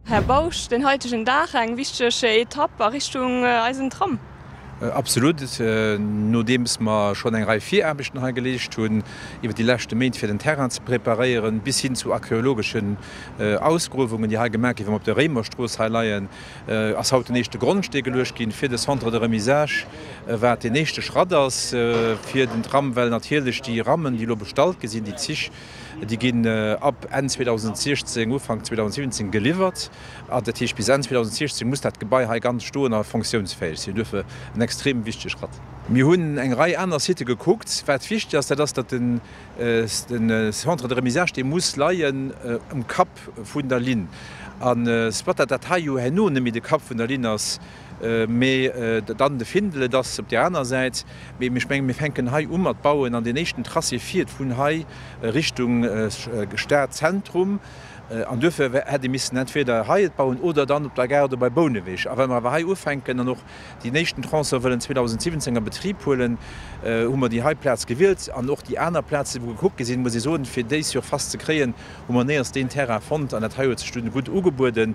Här Bausch, den haitegen Dag eng wichteg Etapp a Richtung eisen Tram. Absolut, nodeems mer schonn eng Rei Viraarbechten hei geleescht hunn iwwer déi leschte Méint, fir den Terrain ze preparéieren, bis hin zu archeologeschen Ausgruewungen, déi hei gemaach gi wéi mer op der Réimerstrooss hei leien, ass haut den éischte Grondstee geluecht ginn fir de Centre de remisage, wat den éischte Schratt ass fir den Tram, well natierlech déi Rammen, déi elo bestallt gi sinn, déi Zich, Déi ginn ab Enn 2016, Ufank 2017 geliwwert. Dat heescht, bis Enn 2016 muss dat Gebai hei ganz stoen a funktiounsfäeg sinn. Duerfir en extrem wichtege Schratt. Mir hunn eng Rei aner Sitë gekuckt. Wat wichteg ass, dat ass, datt de Centre de remisage, dee muss leien um Kapp vun der Linn. A soit dat dat heio herno net méi de Kapp vun der Linn ass, Mee dann de Findel, et ass op där aner Säit. Mee ech menge mir fänken hei u mat bauen an deen éischten Tracé fiert vun hei Richtung Stadzentrum. An duerfir hätt ee missen entweder hei et bauen oder dann op der Gare do bei Bouneweg. A wa mir awer hei ufänken an och deen éischten Tronçon wëllen 2017 a Betrib huelen, hu mer déi hei Plaz gewielt. An och déi aner Plaze wou gekuckt gi sinn, muss ee soen, fir déi Surface ze kréien, hu mer néierst deen Terrain fonnt. An dat hei huet sech dunn gutt ugebueden.